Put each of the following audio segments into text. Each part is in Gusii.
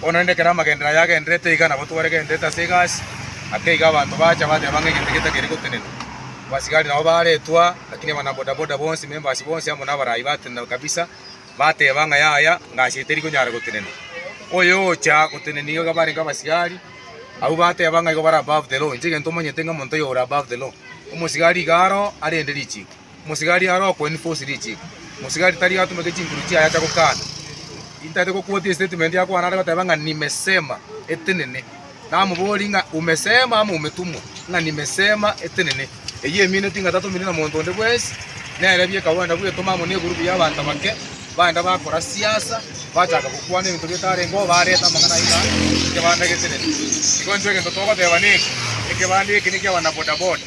Bono rende ekero amagenderero ayio agendererete iga nabo twaregerenerete ase egasi, ake iga abanto bacha bateba ng'a egento eke takeri gotenena. Abasigari nabo baretwa, lakini abanabodaboda bonsi, members bonsi amo nabaraai batenena kabisa, bateba ng'a yaya ngasi eye teri konyara gotenena. Oyo ocha gotenena iga barenge abasigari, abwo bateba ng'a igo bare above the law. Inche egento omanyete ng'a omonto oyo ore above the law. Omosigari iga aro arende richiko. Mosigari are okwenini fosi richiko. Mosigari tari atumeke chinkuru chiaye acha gokana. Intaete gokuotia estatement ya kwana are goteba ng'a nimesema etenene. Namoborie ng'a umesema ama umetumwa? Ng'a nimesema etenene. Eyio emineti ng'a tatumire na monto onde bwensi. Nere biekagwenda bwetoma amo ne group ya abanto abake, baenda bakora siasa, bachaka gokwana ebinto bitarenge oo bareta amang'ana ayio ng'a ekebanda getenene. Igo intwe egento togoteba neke, ekebanda eke nekiabana bodaboda.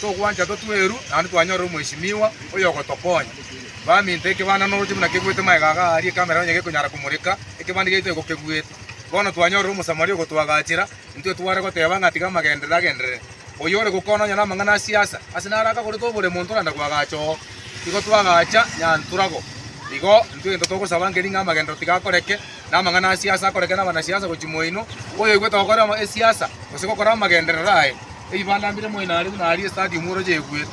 Togwancha totue eru, naende twanyorera omweshimiwa oyogotokonya. Baminto, ekebanda noroche buna kebuete maega aga aaria ekamera onye gekonyara komoreka, ekebanda giaito iko kebuete. Bono twanyorera Omosamaria ogotwagachera, intwe tware goteba ng'a tiga amagenderero agenderere. Oyo ore gokwana onye namang'ana a siasa, ase naro akagorete obore monto naende kwagacha oo. Igo twagacha Nyanturabo. Igo intwe gento togosaba nkeri ng'a amagenderero tiga akoreke, namang'ana a siasa akoreke nabanasiasa gochia moino, oyoigwete gokora ama esiasa gose gokora amagenderero aye. Eibanda mbire moino aria buna aria estadium oroche eguete.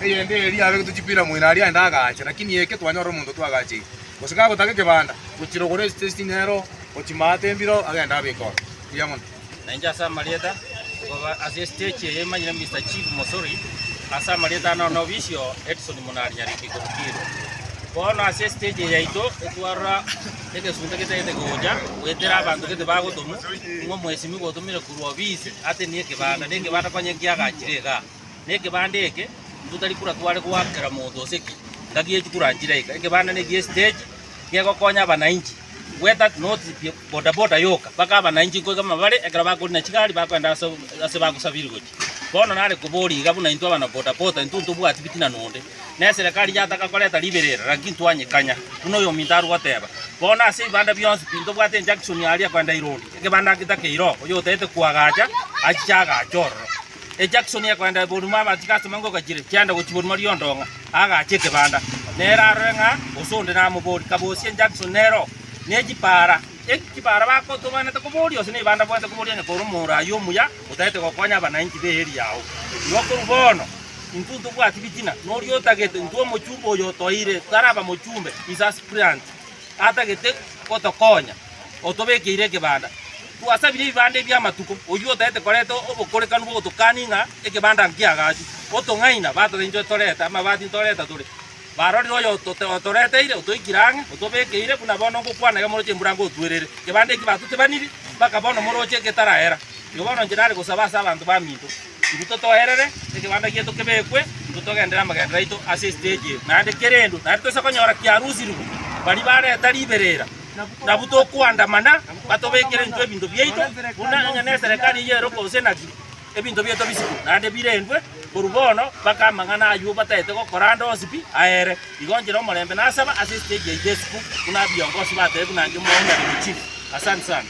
Eyende eria abegetwe chipira moino aria aende agacha lakini eke twanyora omonto twagacheire. Gose kagotaka ekebanda gochirogora esitesi nero gochia maate mbiro agende abeke oo. Buya mono. Na inche ase amarieta, koba ase estage eye emanyire Mister Chief Mosori, ase amarieta ane one obisio Edson Munarinyariki Kipkirwa. Bono ase estage eye yaito etwarora egesunte getagete gocha goetera abanto gete bagotomu, ng'a omwesimigwa otomire korwa obisi atenie ekebanda, na ekebanda konya nkiagachire igaa. Na ekebanda eke, intwe tari kura tware goakera monto gose ki, ngaki echi kura nchire aika, ekebanda neki'estage, gegokonya abanainchi, gweta noti pi- bodaboda yoka mpaka abanainchi nkoiga amabare ekero bakori na chigari bakoenda ase ase bagosabiri gochia. Bono nare koboria iga buna intwe abana bodaboda intwe ntobwati bitina nonde, na eserekari yataka koreta ribera ere naki ntwanyekanya, buna oyominto are goteba. Bono ase ebibanda bionsi pi ntobwate enjunction aria koenda Irondi, ekebanda geta keiroo, oyotaete koagacha achiche agache ororo. Ejaksoni ekoenda Borumo abatiga asome ng'o gachire chiaenda gochia Borumo Riondong'a agaache ekebanda nere arore ng'a gose onde namobori kabosie ejaksoni nere oo ne chipaara eki chipaara bakotobaanete koboria gose neibanda bwanete koboria onye kore omoro ayio omuya otagete gokonya abanainchi be eria yao. Igo korwa bono intwe ntobwati bitina noria otagete intwe omochumbe oyo otoire taraba mochumbe is aspirant atagete gotokonya otobekeire ekebanda. Twasabire ebibanda ebi amatuko, oyio otaete koreta obokorekanu bw'ogotokania ng'a ekebanda nki'agachu. Otong'aina, batorenchwe torete amabati ntoreta tore. Barorire oyo otoreteire, otoikire ang'e, otobekeire, buna bono ngokwana egamoroche embura ngotuerere. Ekebanda eki batotebaniri, mpaka bono omoroche getaraera. Igo bono inche nare gosaba ase abanto baminto, Intwe totoerere ekebanda gieto kebekwe, intwe togendere amagendero aito ase esiteji eye, naende kerendo naende toise konyora kiarusirwe baria bareta riberera. Nabu tokoandamana batobekere intwe ebinto biaito, buna onye neserekari eye ero gose naki, ebinto biaito bisikwe naende birendwe. Korwa bono mpaka amang'ana ayio bataete gokora ande onsi pi aere. Igo nchire omorembe nasaba ase esitegi yaito esiko, buna abiongosi batebe buna inche Mwao nare gochire. Asante sana.